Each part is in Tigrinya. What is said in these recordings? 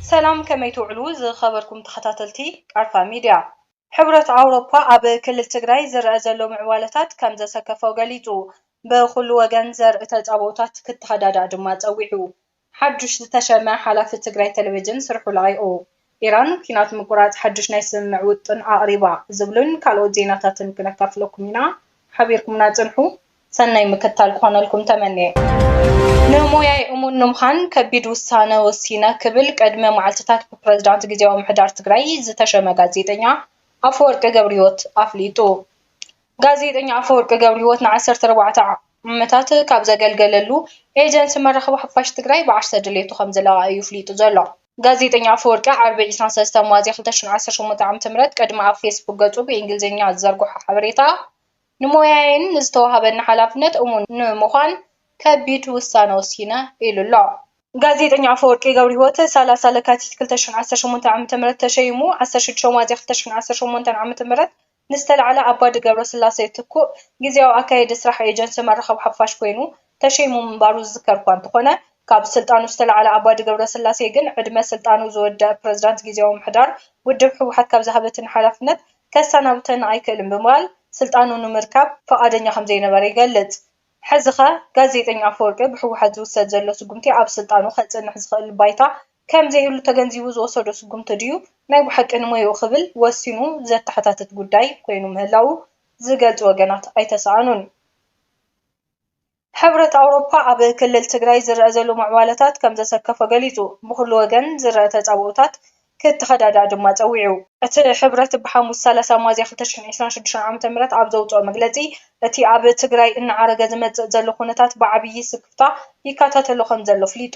ሰላም ከመይ ትውዕሉ ዝኸበርኩም ተኸታተልቲ ቃርፋ ሚድያ። ሕብረት ኣውሮፓ ኣብ ክልል ትግራይ ዝረኣ ዘሎ ምዕባለታት ከምዘሰከፎ ገሊጹ። ብኹሉ ወገን ዘርኢ ተጻብኦታት ክተኸዳዳእ ድማ ጸዊዑ። ሓዱሽ ዝተሸመ ሓላፊ ትግራይ ቴሌቪዥን ስርሑ ለቒቑ። ኢራን ኲናት ምቍራጽ ሓዱሽ ናይ ስምምዕ ውጥን ኣቕሪባ። ዝብሉን ካልኦት ዜናታትን ክነካፍለኩም ኢና። ሓቢርኩምና ጽንሑ። ሰናይ ምክትታል ክኾነልኩም ተመንየ። ንሞያይ እሙን ንምዃን ከቢድ ውሳነ ወሲነ ክብል ቅድሚ መዓልቲታት ብፕረዚዳንት ግዝያዊ ምምሕዳር ትግራይ ዝተሸመ ጋዜጠኛ ኣፈወርቂ ገብርሂወት ኣፍሊጡ። ጋዜጠኛ ኣፈወርቂ ገብርሂወት ንዓሰርተ ኣርባዕተ ዓመታት ካብ ዘገልገለሉ ኤጀንሲ መራኸቢ ሓፋሽ ትግራይ ብዓርሰ ድልየቱ ከምዝለቐቐ እዩ ኣፍሊጡ ዘሎ። ጋዜጠኛ ኣፈወርቂ ዓርቢ ዕስራን ሰለስተን ሚያዝያ ክልተ ሽሕን ዓሰርተ ሸሞንተን ዓመተ ምህረት ቅድሚ ኣብ ፌስቡክ ገፁ ብኢንግሊዝኛ ዝዘርግሖ ሓበሬታ ንሞያየይን ንዝተወሃበኒ ሓላፍነት እሙን ንምዃን ከቢድ ውሳነ ወሲነ ኢሉ ኣሎ። ጋዜጠኛ ኣፈወርቂ ገብርሂወት ሰላሳ ለካቲት ክልተ ሽሕን ዓሰርተ ሸሞንተን ዓመተ ምህረት ተሸይሙ ዓሰርተ ሽዱሽተ ሚያዝያ ክልተ ሽሕን ዓሰርተ ሸሞንተን ዓመተ ምህረት ንዝተላዕለ ኣባዲ ገብረስላሴ ትኩእ ግዝያዊ ኣካየዲ ስራሕ ኤጀንሲ መራኸቢ ሓፋሽ ኮይኑ ተሸይሙ ምንባሩ ዝዝከር እኳ እንተኾነ ካብ ስልጣኑ ዝተላዕለ ኣባዲ ገብረስላሴ ግን ዕድመ ስልጣኑ ዝወደኣ ፕረዚዳንት ግዝያዊ ምምሕዳር ውድብ ህወሓት ካብ ዝሃበትን ሓላፍነት ከሳናብተኒ ኣይክእልን ብምባል ስልጣኑ ንምርካብ ፍቓደኛ ከምዘይነበረ ይገልፅ። ሕዚኸ ጋዜጠኛ ኣፈወርቂ ብህወሓት ዝውሰድ ዘሎ ስጉምቲ ኣብ ስልጣኑ ከፅንሕ ዝኽእል ባይታ ከም ዘይህሉ ተገንዚቡ ዝወሰዶ ስጉምቲ ድዩ ናይ ብሓቂ ንሞያኡ ክብል ወሲኑ ዘተሓታትት ጉዳይ ኮይኑ ምህላዉ ዝገልጹ ወገናት ኣይተሰኣኑን። ሕብረት ኣውሮፓ ኣብ ክልል ትግራይ ዝረኣ ዘሎ ምዕባለታት ከም ዘሰከፎ ገሊጹ፣ ብኹሉ ወገን ዝረኣ ተጻብኦታት ክተኸዳዳእ ድማ ጸዊዑ። እቲ ሕብረት ብሓሙስ ሰላሳ ሚያዝያ ክልተ ሽሕን ዕስራን ሽዱሽተን ዓመተ ምህረት ኣብ ዘውጽኦ መግለጺ፣ እቲ ኣብ ትግራይ እናዓረገ ዝመጽእ ዘሎ ኩነታት ብዓብዪ ስክፍታ ይከታተሎ ከም ዘሎ ኣፍሊጡ።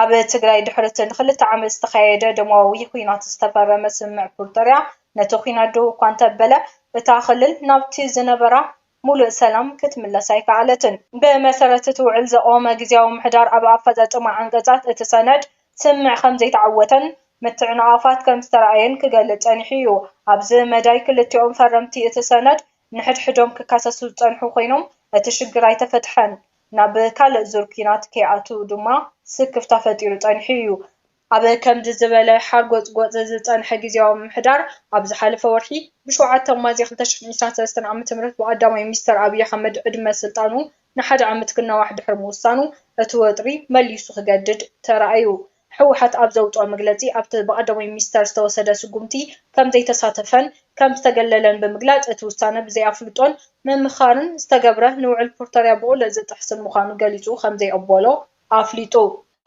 ኣብ ትግራይ ድሕሪ'ቲ ንኽልተ ዓመት ዝተኻየደ ደማዊ ዂናት ዝተፈረመ ስምምዕ ፕሪቶርያ ነቲ ዂናት ደው እኳ እንተበለ እታ ክልል ናብቲ ዝነበራ ሙሉእ ሰላም ክትምለስ ኣይከኣለትን። ብመሰረት እቲ ውዕል ዘቖመ ግዝያዊ ምምሕዳር ኣብ ኣፈፃፅማ ዓንቀፃት እቲ ሰነድ ስምምዕ ከምዘይተዓወተን ምትዕንቓፋት ከምዝተርኣየን ክገልፅ ፀኒሑ እዩ። ኣብዚ መዳይ ክልቲኦም ፈረምቲ እቲ ሰነድ ንሕድሕዶም ክከሰሱ ዝፀንሑ ኮይኖም እቲ ሽግር ኣይተፈትሐን። ናብ ካልእ ዙር ኲናት ከይኣትው ድማ ስክፍታ ፈጢሩ ጸኒሑ እዩ። ኣብ ከምዚ ዝበለ ሓርጎጽጎጽ ዝጸንሐ ግዝያዊ ምምሕዳር፣ ኣብ ዝሓለፈ ወርሒ ብሸውዓተ ሚያዝያ ክልተ ሽሕን ዒስራን ሰለስተን ዓመተ ምህረት ብቐዳማይ ሚኒስተር ኣብይ ኣሕመድ ዕድመ ስልጣኑ ንሓደ ዓመት ክናዋሕ ድሕሪ ምውሳኑ፣ እቲ ወጥሪ መሊሱ ክገድድ ተራእዩ። ህወሓት ኣብ ዘውፅኦ መግለፂ ኣብቲ ብቀዳማይ ሚኒስትር ዝተወሰደ ስጉምቲ ከምዘይተሳተፈን ከምዝተገለለን ብምግላፅ እቲ ውሳነ ብዘይኣፍልጦን ምምኻርን ዝተገብረ ንውዕል ፕርቶርያ ብቑልዕ ዝጥሕስን ምዃኑ ገሊፁ ከምዘይቕበሎ ኣፍሊጡ።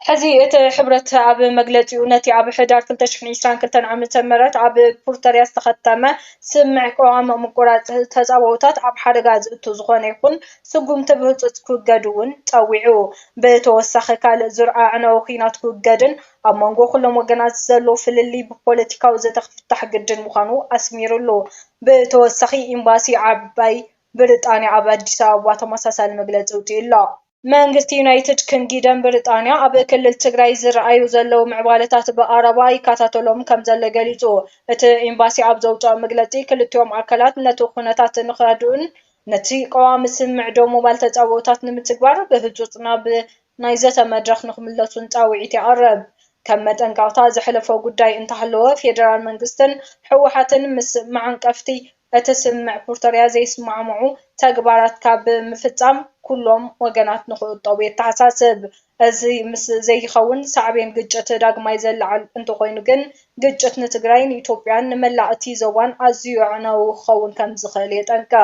ሕዚ እቲ ሕብረት ኣብ መግለፂኡ ነቲ ኣብ ሕዳር ክልተ ሽሕን ዒስራን ክልተን ዓመተ ምህረት ኣብ ፕርቶርያ ዝተኸተመ ስምምዕ ቅዋም ምቁራፅ ተፃብኦታት ኣብ ሓደጋ ዝእቱ ዝኾነ ይኹን ስጉምቲ ብህጹጽ ክውገድ'ውን ጸዊዑ። ብተወሳኺ ካልእ ዙር ኣዕናዊ ኲናት ክውገድን ኣብ መንጎ ኩሎም ወገናት ዘሎ ፍልልይ ብፖለቲካዊ ዘተ ክፍታሕ ግድን ምዃኑ ኣስሚርሉ። ብተወሳኺ ኤምባሲ ዓባይ ብሪጣንያ ኣብ ኣዲስ ኣበባ ተመሳሳሊ መግለጺ ኣውጺኡ'ሎ። መንግስቲ ዩናይትድ ክንጊደም ብሪጣንያ ኣብ ክልል ትግራይ ዝርኣዩ ዘለዉ ምዕባለታት ብቐረባ ይከታተሎም ከምዘሎ ገሊጹ። እቲ ኤምባሲ ኣብ ዘውጽኦ መግለጺ ክልቲኦም ኣካላት ነቲ ኩነታት ንክረድኡን ነቲ ቀዋሚ ስምምዕ ደው ምባል ተጻብኦታት ንምትግባር ብህጹጽ ናብ ናይ ዘተ መድረኽ ንኽምለሱን ጻውዒት የቕርብ። ከም መጠንቀቕታ ዘሕለፎ ጉዳይ እንተሃለወ፣ ፌደራል መንግስትን ህወሓትን ምስ መዓንቀፍቲ እቲ ስምምዕ ፕሪቶርያ ዘይስማዕምዑ ተግባራት ካብ ምፍጻም ኩሎም ወገናት ንኽቑጠቡ የተሓሳስብ። እዚ ምስ ዘይኸውን ሳዕቤን ግጭት ዳግማይ ዘለዓዕል እንተኾይኑ ግን ግጭት ንትግራይ፣ ንኢትዮጵያን ንመላእ እቲ ዞባን ኣዝዩ ኣዕናዊ ክኸውን ከምዝኽእል የጠንቅቕ።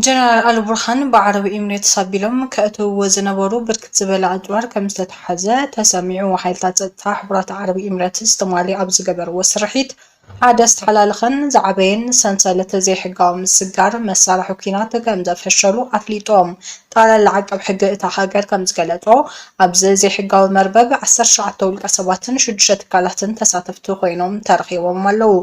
ጀነራል ኣልቡርሃን ብዓረብ ኢሚሬትስ ኣቢሎም ከእትውዎ ዝነበሩ ብርክት ዝበለ ኣጽዋር ከምዝተታሕዘ ተሰሚዑ። ሓይልታት ጸጥታ ሕቡራት ዓረብ ኢሚሬትስ ትማሊ ኣብ ዝገበርዎ ስርሒት፣ ሓደ ዝተሓላለኸን ዝዓበየን ሰንሰለት ዘይሕጋዊ ምስጋር መሳርሒ ኲናት ከምዘፈሸሉ ኣፍሊጡ። ጠቕላላ ዓቃብ ሕጊ እታ ሃገር ከምዝገለጾ፣ ኣብዚ ዘይሕጋዊ መርበብ ዓሰርተ ሸውዓተ ውልቀሰባትን ሽዱሽተ ትካላትን ተሳተፍቲ ኮይኖም ተረኺቦም ኣለዉ።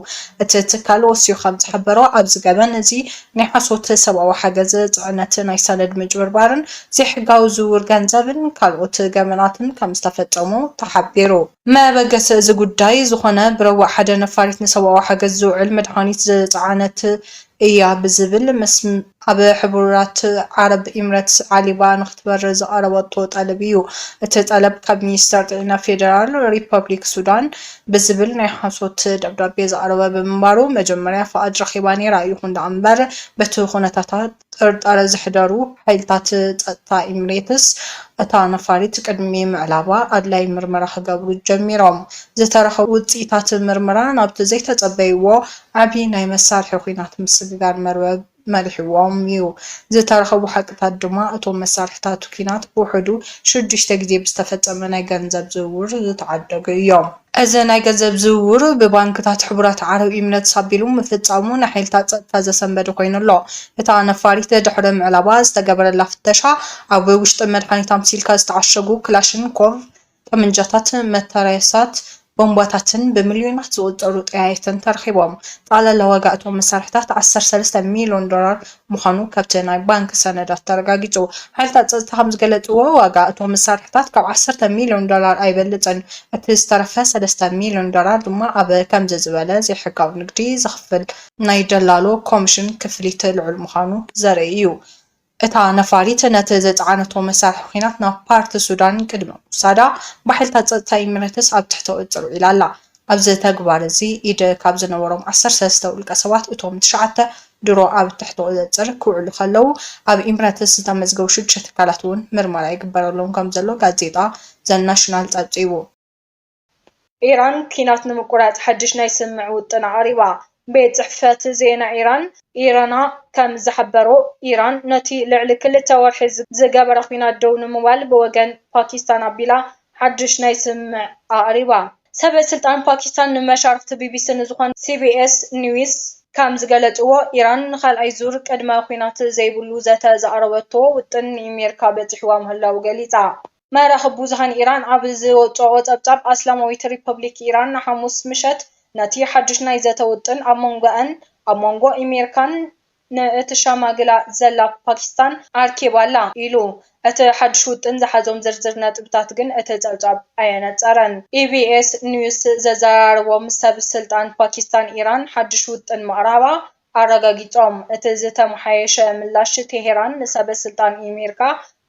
እቲ ትካል ወሲኹ ከምዝሓበሮ፣ ኣብዚ ገበን እዚ ናይ ሓሶት ሰብኣዊ ሓገዝ ጽዕነት፣ ናይ ሰነድ ምጭብርባርን ዘይሕጋዊ ዝውውር ገንዘብን ካልኦት ገበናትን ከምዝተፈጸሙ ተሓቢሩ። መበገሲ እዚ ጉዳይ ዝኾነ ብረቡዕ ሓደ ነፋሪት ንሰብኣዊ ሓገዝ ዝውዕል መድሃኒት ዝጸዓነት እያ ብዝብል ምስ ኣብ ሕቡራት ዓረብ ኢምረትስ ዓሊባ ንኽትበርር ዝቐረበቶ ጠለብ እዩ። እቲ ጠለብ ካብ ሚኒስተር ጥዒና ፌደራል ሪፐብሊክ ሱዳን ብዝብል ናይ ሓሶት ደብዳቤ ዝቐረበ ብምንባሩ መጀመርያ ፍቓድ ረኺባ ነይራ። ይኹን ደኣምበር በቲ ኩነታታ ጥርጣረ ዘሕደሩ ሓይልታት ጸጥታ ኤምሬትስ፣ እታ ነፋሪት ቅድሚ ምዕላባ ኣድላዪ ምርመራ ክገብሩ ጀሚሮም። ዝተረኸቡ ውጽኢታት ምርመራ ናብቲ ዘይተጸበይዎ ዓቢ ናይ መሳርሒ ኲናት ምስግጋር መርበብ መሪሕዎም'ዩ። ዝተረኸቡ ሓቅታት ድማ እቶም መሳርሒታት ኲናት ብውሕዱ ሽዱሽተ ግዜ ብዝተፈጸመ ናይ ገንዘብ ዝውውር ዝተዓደጉ እዮም። እዚ ናይ ገንዘብ ዝውውር ብባንክታት ሕቡራት ዓረብ ኢሚረትስ ኣቢሉ ምፍጻሙ ንሓይልታት ጸጥታ ዘሰንበደ ኮይኑ ኣሎ። እታ ነፋሪት ድሕሪ ምዕላባ ዝተገበረላ ፍተሻ፣ ኣብ ውሽጢ መድሃኒት ኣምሲልካ ዝተዓሸጉ ክላሽንኮቭ ጠመንጃታትን መትረየሳት ቦምባታትን ብሚልዮናት ዝቑጸሩ ጠያይትን ተረኺቦም። ጠቕላላ ዋጋ እቶም መሳርሒታት ዓሰርተ ሰለስተ ሚልዮን ዶላር ምዃኑ ካብቲ ናይ ባንክ ሰነዳት ተረጋጊጹ። ሓይልታት ጸጥታ ከም ዝገለጽዎ፣ ዋጋ እቶም መሳርሒታት ካብ ዓሰርተ ሚልዮን ዶላር ኣይበልጽን፣ እቲ ዝተረፈ ሰለስተ ሚልዮን ዶላር ድማ ኣብ ከምዚ ዝበለ ዘይሕጋዊ ንግዲ ዝኽፈል ናይ ደላሎ ኮሚሽን ክፍሊት ልዑል ምዃኑ ዘርኢ እዩ። እታ ነፋሪት ነቲ ዝጸዓነቶ መሳርሒ ኲናት ናብ ፓርት ሱዳን ቅድሚ ምውሳዳ፣ ብሓይልታት ጸጥታ ኢሚሬትስ ኣብ ትሕቲ ቁጽጽር ውዒላ ኣላ። ኣብዚ ተግባር እዚ ኢድ ካብ ዝነበሮም ዓሰርተ ሰለስተ ውልቀ ሰባት እቶም ትሽዓተ ድሮ ኣብ ትሕቲ ቁፅፅር ክውዕሉ ከለው ኣብ ኢምረትስ ዝተመዝገቡ ሽዱሽተ ትካላት እውን ምርመራ ይግበረሎም ከምዘሎ ጋዜጣ ዘ ናሽናል ፀብፂቡ። ኢራን ኲናት ንምቁራፅ ሓድሽ ናይ ስምምዕ ውጥን ኣቕሪባ። ቤት ጽሕፈት ዜና ኢራን ኢርና ከም ዝሓበሮ፣ ኢራን ነቲ ልዕሊ ክልተ ወርሒ ዝገበረ ኲናት ደው ንምባል ብወገን ፓኪስታን ኣቢላ ሓድሽ ናይ ስምምዕ ኣቕሪባ። ሰበስልጣን ፓኪስታን ንመሻርኽቲ ቢቢሲ ንዝኾነ ሲቢኤስ ኒውስ ከም ዝገለጽዎ፣ ኢራን ንኻልኣይ ዙር ቅድመ-ኲናት ዘይብሉ ዘተ ዘቕረበቶ ውጥን ንኢሜርካ በጺሕዋ ምህላዉ ገሊጻ። መራኽብ ብዙሃን ኢራን ኣብ ዘውጽእኦ ጸብጻብ፣ ኣስላማዊት ሪፓብሊክ ኢራን ሓሙስ ምሸት ነቲ ሓድሽ ናይ ዘተ ውጥን ኣብ መንጎኣን ኣብ መንጎ ኣሜሪካን ንእተሸማግላ ዘላ ፓኪስታን ኣርኪባ'ላ ኢሉ። እቲ ሓድሽ ውጥን ዝሓዞም ዝርዝር ነጥብታት ግን እቲ ጸብጻብ ኣየነጸረን። ኢቢኤስ ኒውስ ዘዘራረቦም ሰብ ስልጣን ፓኪስታን፣ ኢራን ሓድሽ ውጥን ምቕራባ ኣረጋጊጾም። እቲ ዝተመሓየሸ ምላሽ ቴሄራን ንሰበ ስልጣን ኢሜርካ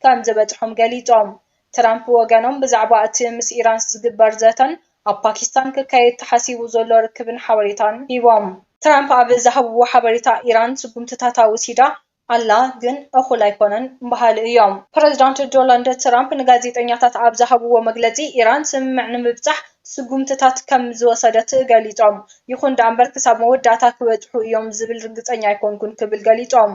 ከም ዝበጽሖም ገሊጾም። ትራምፕ ብወገኖም ብዛዕባ እቲ ምስ ኢራንስ ዝግበር ዘተን ኣብ ፓኪስታን ክካየድ ተሓሲቡ ዘሎ ርክብን ሓበሬታን ሂቦም። ትራምፕ ኣብ ዝሃብዎ ሓበሬታ ኢራን ስጉምትታታ ወሲዳ ኣላ ግን እኹል ኣይኮነን በሃሊ እዮም። ፕረዚዳንት ዶላንድ ትራምፕ ንጋዜጠኛታት ኣብ ዝሃብዎ መግለጺ፣ ኢራን ስምምዕ ንምብጻሕ ስጉምትታት ከም ዝወሰደት ገሊጾም። ይኹን ደኣምበር ክሳብ መወዳእታ ክበጽሑ እዮም ዝብል ርግጸኛ ኣይኮንኩን ክብል ገሊጾም።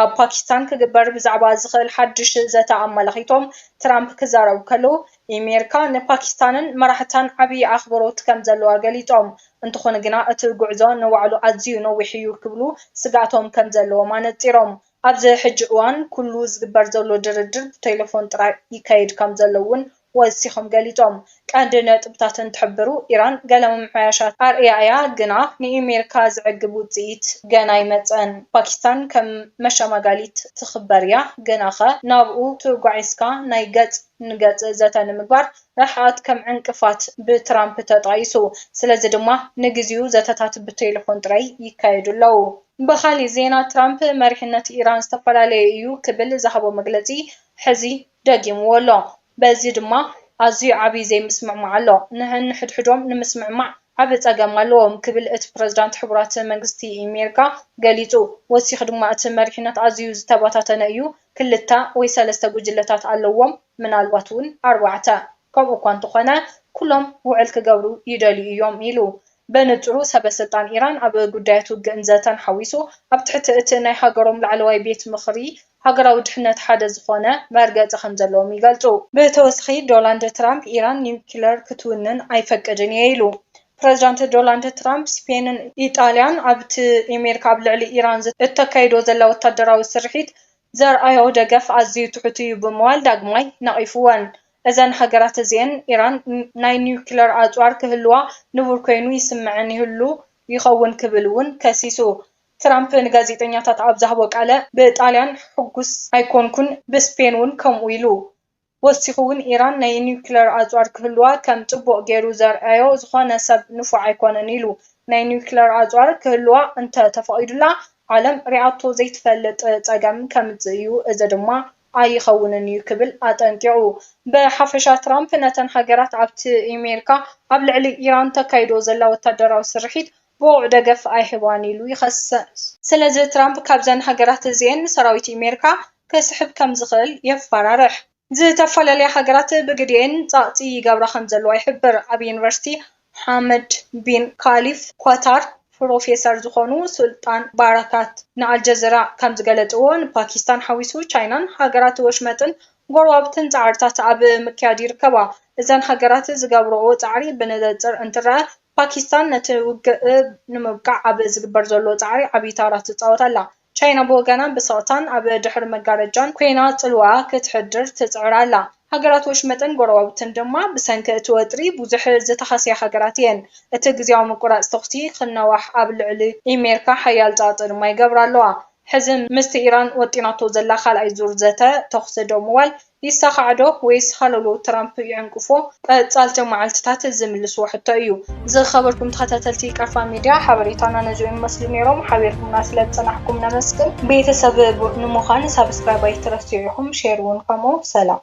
ኣብ ፓኪስታን ክግበር ብዛዕባ ዝኽእል ሓድሽ ዘተ ኣመላኺቶም ትራምፕ ክዛረቡ ከለዉ፣ ኢሜርካ ንፓኪስታንን መራሕታን ዓብዪ ኣኽብሮት ከም ዘለዋ ገሊፆም። እንተኾነ ግና እቲ ጉዕዞ ንባዕሉ ኣዝዩ ነዊሕ እዩ ክብሉ ስግኣቶም ከም ዘለዎም ኣነፂሮም። ኣብዚ ሕጂ እዋን ኩሉ ዝግበር ዘሎ ድርድር ብቴሌፎን ጥራይ ይካየድ ከም ዘሎ እውን ወሲኾም ገሊፆም። ቀንዲ ነጥብታት እንትሕብሩ ኢራን ገለ ምምሕያሻት ኣርእያ እያ ግና ንኢሜርካ ዘዕግብ ውፅኢት ገና ኣይመፀን። ፓኪስታን ከም መሸማጋሊት ትኽበር እያ ግናኸ ናብኡ ትጓዒዝካ ናይ ገፅ ንገጽ ዘተ ንምግባር ርሕቐት ከም ዕንቅፋት ብትራምፕ ተጣይሱ፣ ስለዚ ድማ ንግዜኡ ዘተታት ብቴለፎን ጥራይ ይካየዱ ኣለዉ። ብኻልእ ዜና ትራምፕ መሪሕነት ኢራን ዝተፈላለየ እዩ ክብል ዝሃቦ መግለጺ ሕዚ ደጊምዎ ኣሎ፣ በዚ ድማ ኣዝዩ ዓቢ ዘይምስምዕማዕ ኣሎ፣ ነንሕድሕዶም ንምስምዕማዕ ዓቢ ጸገም ኣለዎም ክብል እቲ ፕረዚዳንት ሕቡራት መንግስቲ ኣሜሪካ ገሊጹ፣ ወሲኹ ድማ እቲ መሪሕነት ኣዝዩ ዝተበታተነ እዩ ክልተ ወይ ሰለስተ ጉጅለታት ኣለዎም፣ ምናልባት እውን ኣርባዕተ። ከምኡ እኳ እንተዀነ፣ ኵሎም ውዕል ክገብሩ ይደልዩ እዮም ኢሉ። በንጽሩ ሰበስልጣን ኢራን ኣብ ጉዳያት ውግእን ዘተን ሓዊሱ ኣብ ትሕቲ እቲ ናይ ሃገሮም ላዕለዋይ ቤት ምኽሪ ሃገራዊ ድሕነት ሓደ ዝዀነ መርገጺ ከም ዘለዎም ይገልጹ። ብተወሳኺ ዶላንድ ትራምፕ ኢራን ኒዩክለር ክትውንን ኣይፈቅድን እየ ኢሉ። ፕረዚዳንት ዶላንድ ትራምፕ ስፔንን ኢጣልያን ኣብቲ ኤሜሪካ ኣብ ልዕሊ ኢራን እተካይዶ ዘላ ወታደራዊ ስርሒት ዘርኣዮ ደገፍ ኣዝዩ ትሑት እዩ ብምባል ዳግማይ ነቒፍወን። እዘን ሃገራት እዚኤን ኢራን ናይ ኒዩክለር ኣጽዋር ክህልዋ ንቡር ኰይኑ ይስምዐን ይህሉ ይኸውን ክብል እውን ከሲሱ። ትራምፕ ንጋዜጠኛታት ኣብ ዝሃቦ ቃለ፣ ብጣልያን ሕጉስ ኣይኰንኩን፣ ብስፔን'ውን ከምኡ ኢሉ። ወሲኹ ውን ኢራን ናይ ኒውክለር ኣጽዋር ክህልዋ ከም ጽቡቕ ጌሩ ዘርኣዮ ዝኾነ ሰብ ንፉዕ ኣይኮነን ኢሉ። ናይ ኒውክለር ኣጽዋር ክህልዋ እንተ ተፈቒዱላ ዓለም ሪኣቶ ዘይትፈልጥ ጸገም ከምጽእ እዩ፣ እዚ ድማ ኣይኸውንን እዩ ክብል ኣጠንቂቑ። ብሓፈሻ ትራምፕ ነተን ሃገራት ኣብቲ ኢሜርካ ኣብ ልዕሊ ኢራን ተካይዶ ዘላ ወታደራዊ ስርሒት ብቑዕ ደገፍ ኣይህባን ኢሉ ይኸስስ። ስለዚ ትራምፕ ካብዘን ሃገራት እዚኤን ንሰራዊት ኣሜሪካ ክስሕብ ከም ዝኽእል የፋራርሕ። ዝተፈላለያ ሃገራት ብግዲኤን ጸቕጢ ይገብራ ከም ዘለዋ ይሕብር። ኣብ ዩኒቨርሲቲ ሓመድ ቢን ኻሊፍ ኳታር ፕሮፌሰር ዝኾኑ ሱልጣን ባራካት ንኣልጀዚራ ከም ዝገለጽዎ፣ ንፓኪስታን ሓዊሱ ቻይናን ሃገራት ወሽመጥን ጎረባብትን ጻዕርታት ኣብ ምክያድ ይርከባ። እዘን ሃገራት ዝገብርኦ ጻዕሪ ብንጽር እንትረኣ ፓኪስታን ነቲ ውግእ ንምብቃዕ ኣብ ዝግበር ዘሎ ጻዕሪ ዓቢ ተራ ትጻወት ኣላ። ቻይና ብወገና ብስቕታን ኣብ ድሕሪ መጋረጃን ኰይና ጽልዋኣ ክትሕድር ትጽዕር ኣላ። ሃገራት ወሽመጥን ጐረባብትን ድማ ብሰንኪ እቲ ወጥሪ ብዙሕ ዝተሃስያ ሃገራት እየን። እቲ ግዝያዊ ምቍራጽ ተዅሲ ክናዋሕ ኣብ ልዕሊ ኣሜሪካ ሓያል ጸቕጢ ድማ ይገብራ ኣለዋ። ሕዚ ምስቲ ኢራን ወጢናቶ ዘላ ካልኣይ ዙር ዘተ ተዅሲ ደው ምባል ይሳኻዕ'ዶ ወይስ ሃለውለው ትራምፕ ይዕንቅፎ? ቀጻልቲ መዓልቲታት ዝምልስዎ ሕቶ እዩ። ዝኸበርኩም ተኸታተልቲ ቀርፋ ሚድያ ሓበሬታና ነዚኦም ይመስሉ ኔሮም። ሓቢርኩምና ስለ ዝጸናሕኩም ነመስግን። ቤተሰብ ንሙኻን ሳብስክራይብ ኣይትረስዑ ኢኹም ሼር ውን ከምኡ። ሰላም።